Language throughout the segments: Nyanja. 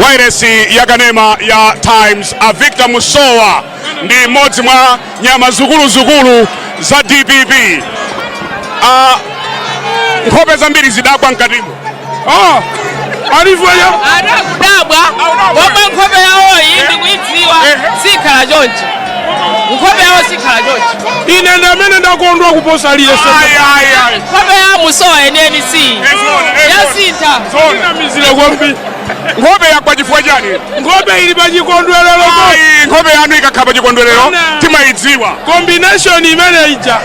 wairesi ya kanema ya times a victor musowa ndi mmodzi mwa nyama zikuluzikulu za dpp a nkhope zambiri zidagwa mkatimo oh, alivyoya adakudabwa pomwe nkhope yawoyi ndikuidziwa sikhala chonchi nkhope yawo sikhala chonchi ine ndi amene ndakondwa kuposa aliyense nkhope ya musowa yeniyeni si yasintha inamizire kwambiri nkhope yagwa chifukwa chani nkhope ili pa chikondwerero Ayi, nkhope yanu ikakhala pa chikondwerero timayidziwa combination imene ija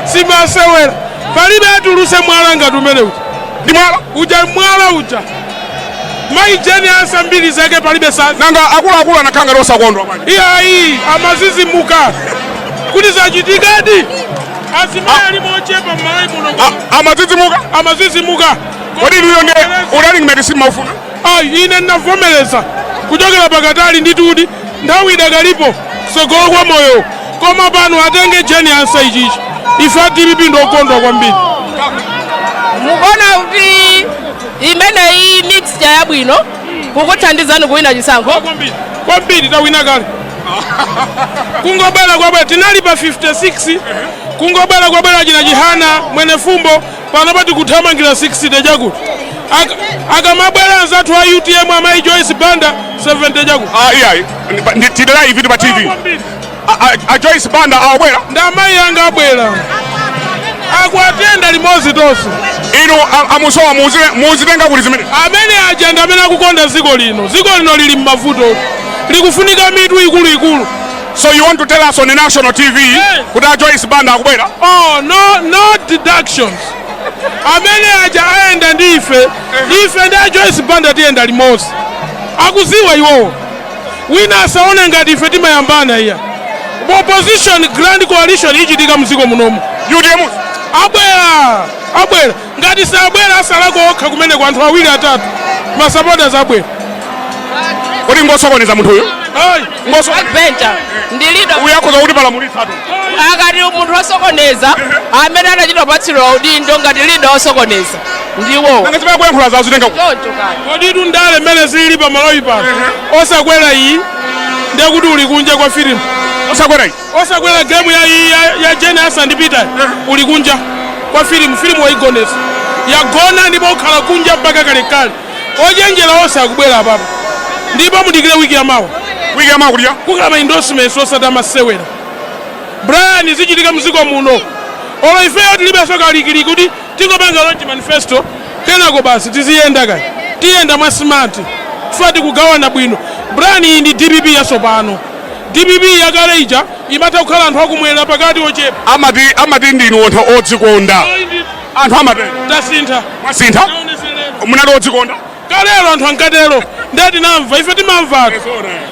si masewera palibe atuluse mwala ngati umene uja ndi mwala uja mwala uja Mayi Jane Ansah mbiri zake palibe sa nanga akuluakulu anakhala ngati osakondwa bwana. iyayi amazizimuka kuti zachitikadi azimayi alimo ochepa m'malawi muno A- Amadzidzimuka. amazizimuka Kodi inuyo ndiye u running mate simaufuna. ayi ine ndinavomereza kuchokera pakatali ndithudi nthawi idakalipo tsogolo kwa moyo koma pano atenge Jane Ansah ichichi ife a dpp ndi okondwa kwambiri mukuona kuti imeneyi mixture yabwino kukuthandizani kuwina chisankho kwambiri kwambiri tawina kale kungobwera kwabwera tinali pa 56 kungobwera kwabwera achina chihana mwenefumbo panopa tikuthamangira 60 chakuti Aka- akamabwera anzathu a utm amayi joyce banda 70 chakuti Ah, yeah. Ndi- ndi- Tili live ndi pa TV. Kwambiri. a Joyce Banda akubwera ndi amayi anga abwera awa tiyenda limodzi tonse inu a musowa mukuzitenga kuti zimene amene aja ndi amene akukonda dziko lino dziko lino lili m'mavuto likufunika mitu ikuluikulu So you want to tell us on the national TV yes. kuti a Joyce Banda akubwera? Oh, no, no deductions. amene aja ayenda ndi ife ife ndi a Joyce Banda tiyenda limodzi akuziwa iwowo Wina asaone ngati ife timayambana iya. Opposition grand coalition ichitika mdziko munomu. Utm abwera abwera ngati sabwera atsalako okha kumeneko anthu awiri atatu ma supporters abwera. Kodi ngosokoneza munthu uyu? Ayi. Ngoso backbencher ndi leader uja akhoza kutipalamulitsatu. akati munthu osokoneza amene anachita kupatsidwa udindo ngati leader osokoneza ndiwo nanga zimene akuyankhulazo akuzitenga kuti choncho kani koditu ndale mmene zili pa malawi pano osakwera iyi ndiye kuti uli kunja kwa filimu osakwera iyi osakwera gemu ya, ya, ya jane ansah ndi peter uli kunja kwa filimu filimu waigonetsa yagona ndipo ukhala kunja mpaka kalekale ochenjera onse akubwera apapo ndipo mudikire wiki ya mawa wiki ya mawa kuja kukhala ma endorsements osati a masewera brian zichitika mziko muno olo ifeyo tilibenso kalikiliki kuti Tingopanga launch manifesto kenako basi tiziyenda kaya. Tiyenda mwa smart chifukwa tikugawana bwino. Brian iyi ndi dpp yatsopano. Dpp yakale ija imatha kukhala anthu akumwera pakati ochepa. amati amati ndinu anthu odzikonda Ayi ndi anthu amatero tasintha. mwasintha Taoneserera. munali odzikonda Kalelo anthu ankatero nde tinamva ife timamvatu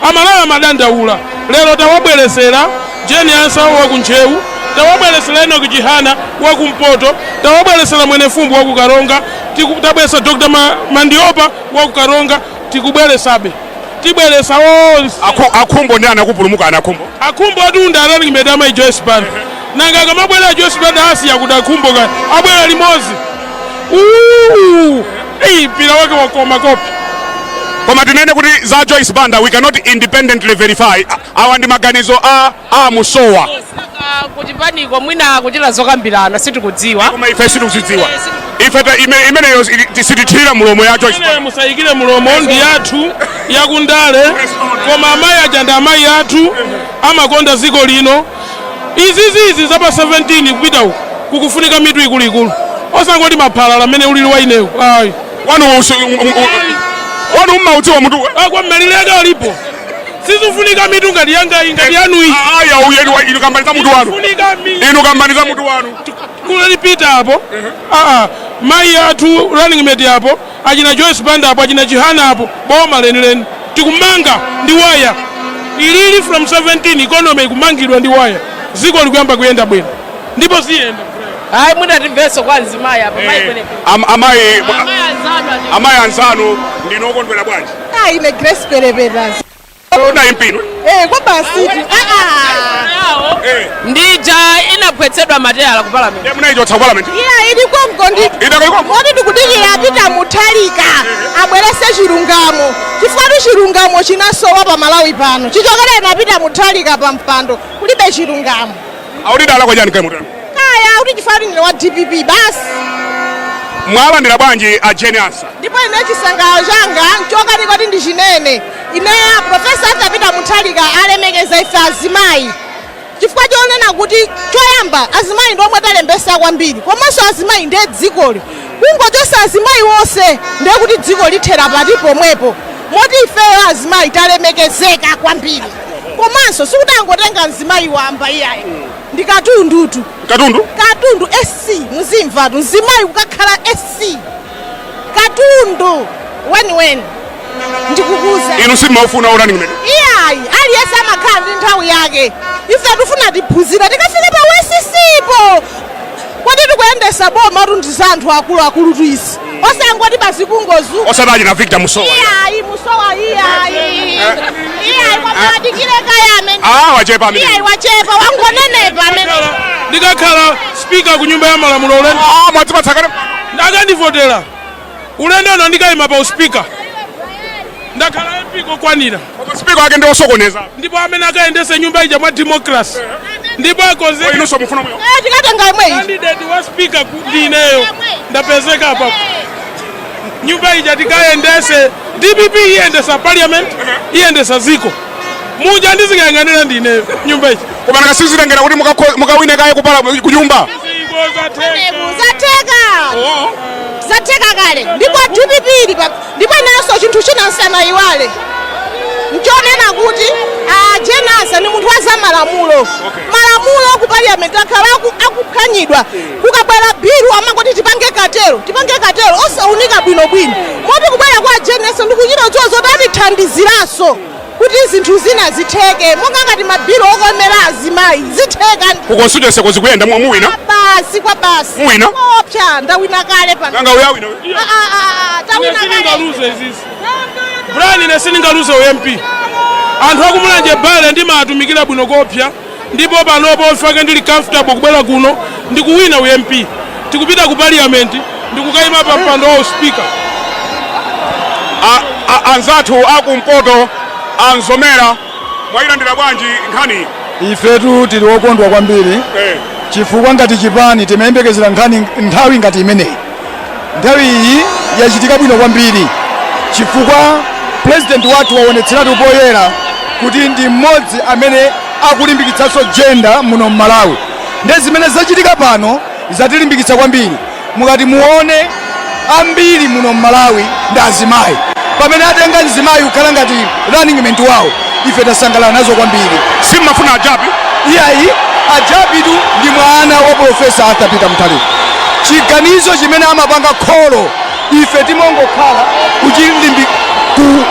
amalawi amadandaula lero tawabwelesera Jane Ansa wa ku Ntcheu tawabwelesera Enock Chihana wa ku mpoto tawabwelesera Mwenefumbo wa ku Karonga tiku- tabwelesa Dr. Ma- Mandiopa wa ku Karonga tikubwelesabe tibwelesa onse Akhu- akhumbo ndi anakupulumuka anakhumbo akhumbo atunda running mate amayi joyce banda nanga akamabwera joyce banda asiya kuti akhumbo kayi abwera limodzi Uuu! Hey, mpira wake wakoma kopi koma tinene kuti za joyce banda we cannot independently verify awa ndi maganizo a, a musowa kuchipaniko mwina kuchita zokambirana sitikudziwa koma ife sitikuzidziwa ife ta- ime- imeneyo si- sitithirira mulomo ya joyce Banda. musayikire mulomo ndi yathu yakundale koma amayi aja ndi amayi athu amakonda dziko lino Izizi izi za pa 17 kupita uku kukufunika mitu ikuluikulu osangoti maphalala mmene ulili wa inewu ayi wanu usi- u- u- u- wanu mmaudziwa mutu wanga mmalire ake alipo sizifunika mitu ngati yangayi ngati yanuyi aya uyeni wa inu kambani za mutu wanu Funika mi- inu kambani za mutu wanu kulipita apo aa mayi athu running mate apo achina joyce banda apo achina chihana apo boma lenileni tikumanga ndi waya ilili, from 17 economy ikumangidwa ndi waya ziko likuyamba kuyenda bwino ndipo ziyenda hayi mwina timveso kwa mzimayi apa amayi eh, kwenekene Am- amayi amayi anzanu ati amayi anzanu ndinokondwera bwanji Ah, ine grace perepetas Koma ine mbino. Eh, kwa basi. Ah ah. Eh. Ndija inaphwetsedwa mateyala ku parliament. Ya munaichotsa parliament. Iya ili kwa mkondi. Ida kwa kwa. Moti tikudikira a Peter Mutharika. Abwerese chilungamo. Chifukwa chilungamo chinasowa pa Malawi pano. Chichokera ine a Peter Mutharika pa mpando. Kulibe chilungamo. Akuti idalakwa chani kaya mutani? Kaya audi chifukwa ndine wa DPP basi. Mwalandira bwanji a Jane Ansa? Ndipo ine chisangalalo changa nchokanika kuti ndichinene. Ine a Professor Arthur Peter Mutharika alemekeza ife azimayi. Chifukwa chonena kuti choyamba azimayi ndi omwe talembesa kwambiri. Komanso azimayi ndiye dzikoli. Kungochosa azimayi wonse ndiye kuti dziko lithera pati pomwepo. Moti ifeyo azimayi talemekezeka kwambiri. komanso sikuti angotenga mzimayi wamba iyayi ndi katundutu katundu katundu sc muzimvatu mzimayi kukakhala sc katundu weniweni ndikukuuzani inu simumaufuna u running mate iyayi aliyense amakhala ndi nthawi yake ife tifuna tiphunzira tikafike pa u SC-po Kodi tikuyendesa bomatu ndi za anthu akulu akulutu izi osangoti basi kungozu. Osati achina Victor Musowa. Iyayi Musowa iyayi. Iyayi kwa mwadikire kaye amene. Ah wachepa amene. Iyayi wachepa wangonenepa amene. Ndikakhala speaker ku nyumba ya malamulo ulendo. Ah mwatipatsa kale. Akandivotera. Ulendo uno ndikaima pa usipika ndakhala MP kokwanira Koma speaker wake ndi osokoneza. ndipo amene akayendese nyumba ija mwa democracy ndipo Kwa akonzeka inunso mufuna mwe. Eh, tikatenga imwe ichi candidate wa speaker ku- ndi ineyo ndapezeka apa nyumba ija tikayendese dpp iyendesa parliament iyendesa ziko muja ndizikayang'anira ndineyo nyumba ija koma nanga sizitengera kuti mukakho- mukawine kaye kupala kunyumba zatheka zatheka kale ndipo dpp ili pa- ndipo inanso chinthu china nsanayiwale nchonena kuti a Jane Ansah ndi munthu wa zamalamulo malamulo ku parliament akhala aku- akuphwanyidwa Kukabwera bill amangoti tipange curtail tipange curtail osaunika bwino bwino moti kubwera kwa a Jane Ansah ndikuchita kudziwa zoti atithandiziranso kuti zinthu zina zitheke monga ngati ma bill okomera azimayi zitheka Ku constituency ko zikuyenda mu- muwina. basi kwabasi Muwina? Koopsa ndawina kale pano Nanga uya wina. Ah, ah, ah, tawina kale siningaluze izizi Brian ine siningaluze u MP anthu a ku Mulanje Bale ndimatumikira bwino koopsa ndipo panopo mfake ndili comfortable kubwera kuno ndikuwina u MP tikupita ku parliament ndikukayima pa mpando wa uspika anzathu akumpoto a Mzomera mwayilandira bwanji nkhani ifetu tili okondwa kwambiri eh. chifukwa ngati chipani timayembekezera nkhani nthawi ngati imeneyi Nthawi iyi yachitika bwino kwambiri chifukwa pulezidenti wathu waonetseratu poyera kuti ndi mmodzi amene akulimbikitsanso jenda muno m'Malawi. Ndiye zimene zachitika pano zatilimbikitsa kwambiri. Mukati muone ambiri muno m'Malawi ndi azimayi, pamene atenga mzimayi kukhala ngati running mate wawo. ife tasangalala nazo kwambiri. Sim'mafuna a Jappie? Iyayi, a Jappie tu ndi mwana wa Polofesa Arthur Peter Mutharika. Chiganizo chimene amapanga kholo, ife timangokhala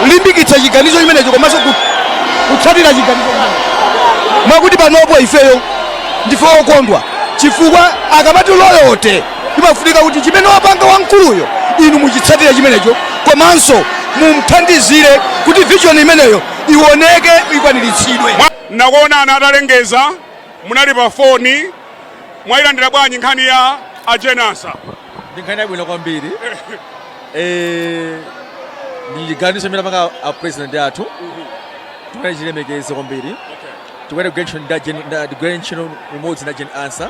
kulimbikitsa chiganizo chimenecho komanso kutsatira chiganizo chimenecho. Mwakuti panopo ifeyo ndife okondwa chifukwa akamati loyalty. Imafunika kuti chimene wapanga wamkuluyo inu muchitsatire chimenecho komanso mumthandizire kuti vision imeneyo iwoneke ikwaniritsidwe. Mwa. Nakuonani atalengeza munali pa foni, mwailandira bwanji nkhani ya a Jane Ansah? Ndi nkhani yabwino kwambiri eh, ndi chiganizo chimene apanga a president athu tikuyenera tichilemekeze kwambiri tikuyenera kugwira ntchito ndi a Gen- ndi- ndi kugwira ntchito limodzi ndi a Jane Ansah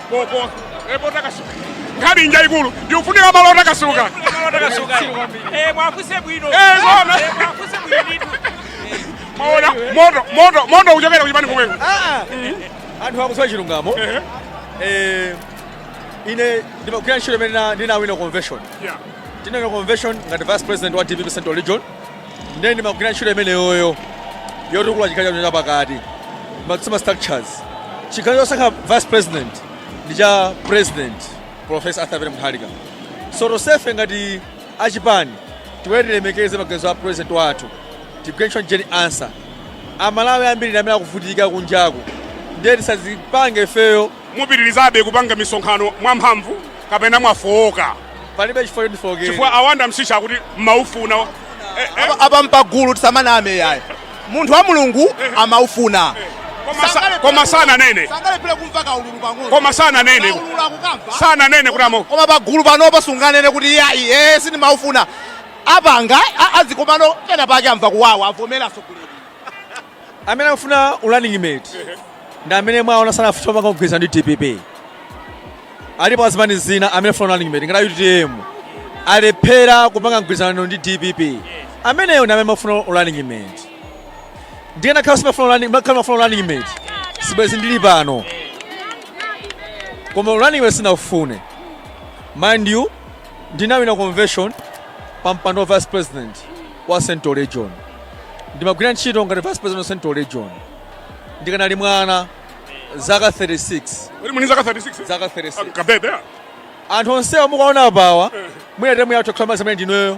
koko epo takasuka nkhani njaikulu ndikufunika malo otakasuka Eh, muwafunse bwino Eh, zona. Eh, muwafunse bwino ndithu maona moto moto moto kuchokera kuchipani kumweko anthu akusowa chilungamo Eh, ine ndimagwira ntchito imene ndina- ndinawina convention Yeah. ndinawina convention ngati vice president wa dpp central region ndiye ndimagwira ntchito imeneyoyo yotukula chigawo chathu chapakati kutsimikiza ma structures chiganizo chosankha vice president ndi cha president professor arthur peter mutharika so tonsefe ngati achipani tiwere tilemekeze maganizo a president wathu tigwire ntchito jane ansah amalawi ambiri ndi amene akuvutika kunjaku ndiye tisadzipange ifeyo mupitirizabe kupanga misonkhano mwamphamvu kapena mwafowoka palibe chifukwa choti ndifookere chifukwa a wandale msisha akuti mumaufuna Eh, eh, Apa- apa mpagulu tisamaname yayi munthu wa mulungu amaufuna koma sa- koma sananene sangalephere kumva kaululu pang'ono koma sananene Kaululu akukamva. sananene kuti amo koma pagulu panopo sunganene kuti yayi ee sindimaufuna apanga a- a zikomano pena pake amva kuwawa avomera sokuleni amene amafuna urunning mate ndi amene mwaona sanafuna kupanga kugwirizana ndi dpp alipo a zipani zina amene afuna urunning mate ngati utm alephera kupanga mgwirizano ndi dpp ameneyo ndi amene amafuna urunning mate ndiye nkakhala simafuna urunning- nkakhala mafuna urunning mate sibwezi ndili pano koma urunning mate sinafune mind you Ndinawina convention pa mpando wa vice president wa central region. Ndimagwira ntchito ngati vice president wa central region. Ndikanali mwana zaka 36. Muli ndi zaka 36? Zaka 36. Kabebe. Anthu onsewa mukuwaona apawa, mwina term yathu kukhala m'ma zimene ndinoyo.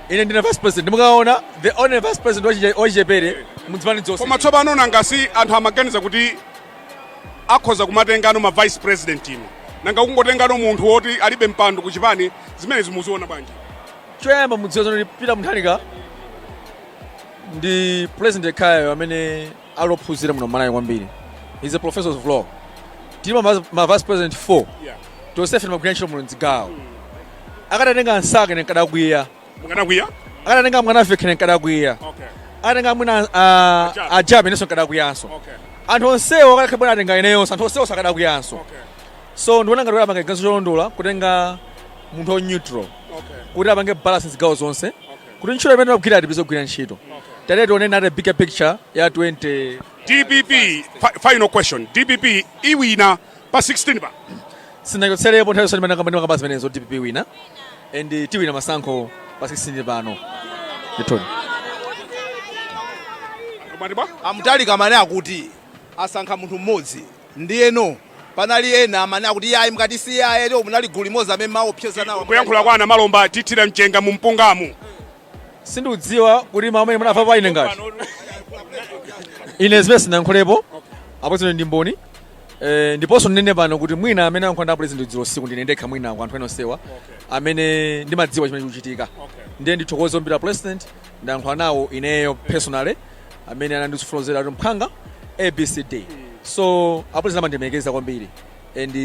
ine ndine vice president mukuona the only vice president wachi- wachichepere mudzipani dzonse koma tsopano nanga si anthu amaganiza kuti akhoza kumatengano ma vice president ino nanga kungotengano munthu woti alibe mpando ku chipani zimenezi muziona bwanji choyamba mudziwa zoti peter mutharika ndi president yekhayo amene ali ophunzira muno mmalawi kwambiri is a professor of law tilipo ma vice- ma vice president 4 Yeah. tonsefe timagwira ntchito muno mdzigawo akadatenga a ansah nenkadakwiya Mukadakwiya? akadatenga mwanamvekha nenkadakwiya Okay. akatenga mwina A Jappie. a jappie inenso nkadakwiyanso Okay. anthu onsewo akadakhala kuti atenga ineyonso anthu onsewo sakadakwiyanso Okay. so ndiona ngati kuti apange ganizo cholondola kutenga munthu wa neutral Okay. kuti apange balance zigawo zonse kuti ntchito imene timagwira tipitirize kugwira ntchito tiyeni tione the bigger picture ya 20 dpp fi- final question dpp iwina pa 16 pa sinachotselepo nthawi zonse ndimene ndimakamba zimenezo dpp iwina and tiwina masankho pa 16 pano ndithudi Mwati bwa? a mutharika amene akuti asankha munthu mmodzi Ndiyeno, panali ena amene akuti, Iyayi, mukati si iyayi ayi, lero munali gulu limodzi amene mumaopseza nawo munali. Kuyankhula kwa Namalomba, Tithira mchenga mu mpungamu. Sindikudziwa kuti mau amene munamvapo ine ngati. Ine zimene sinayankhulepo, apo zino ndi mboni. Eh, ndiponso ndinene pano kuti mwina amene ayankhula ndi a president dzulo usiku ndine ndekha mwina kwa anthu ena onsewa amene ndimadziwa chimene chikuchitika. Ndiye ndithokoze kwambiri a president ndayankhula nawo ineyo personally. amene anandifotokozera kuti mphwanga abcd so a president amandilemekeza kwambiri and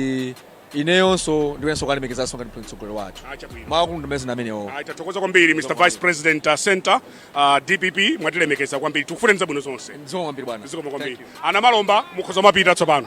ineyonso ndikuyeneranso kuwalemekeza ngati mtsogoleri wathu maakulu ndimezina amenewo Ayi, tathokoza kwambiri mr vice president uh, center uh, dpp mwatilemekeza kwambiri tikufunirani zabwino zonse zikomo kwambiri bwana zikomo kwambiri a Namalomba mukhoza kumapita tsopano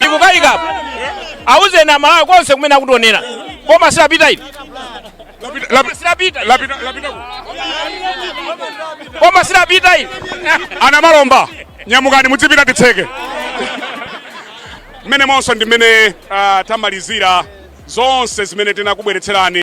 ndikukaikapo auzeni aMalawi konse kumene akutionera boma silapita ili boma silapita boma silapita ili a Namalomba nyamukani mudzipita titseke mmenemonso ndi mmene ah, tamalizira zonse zimene tinakubweretserani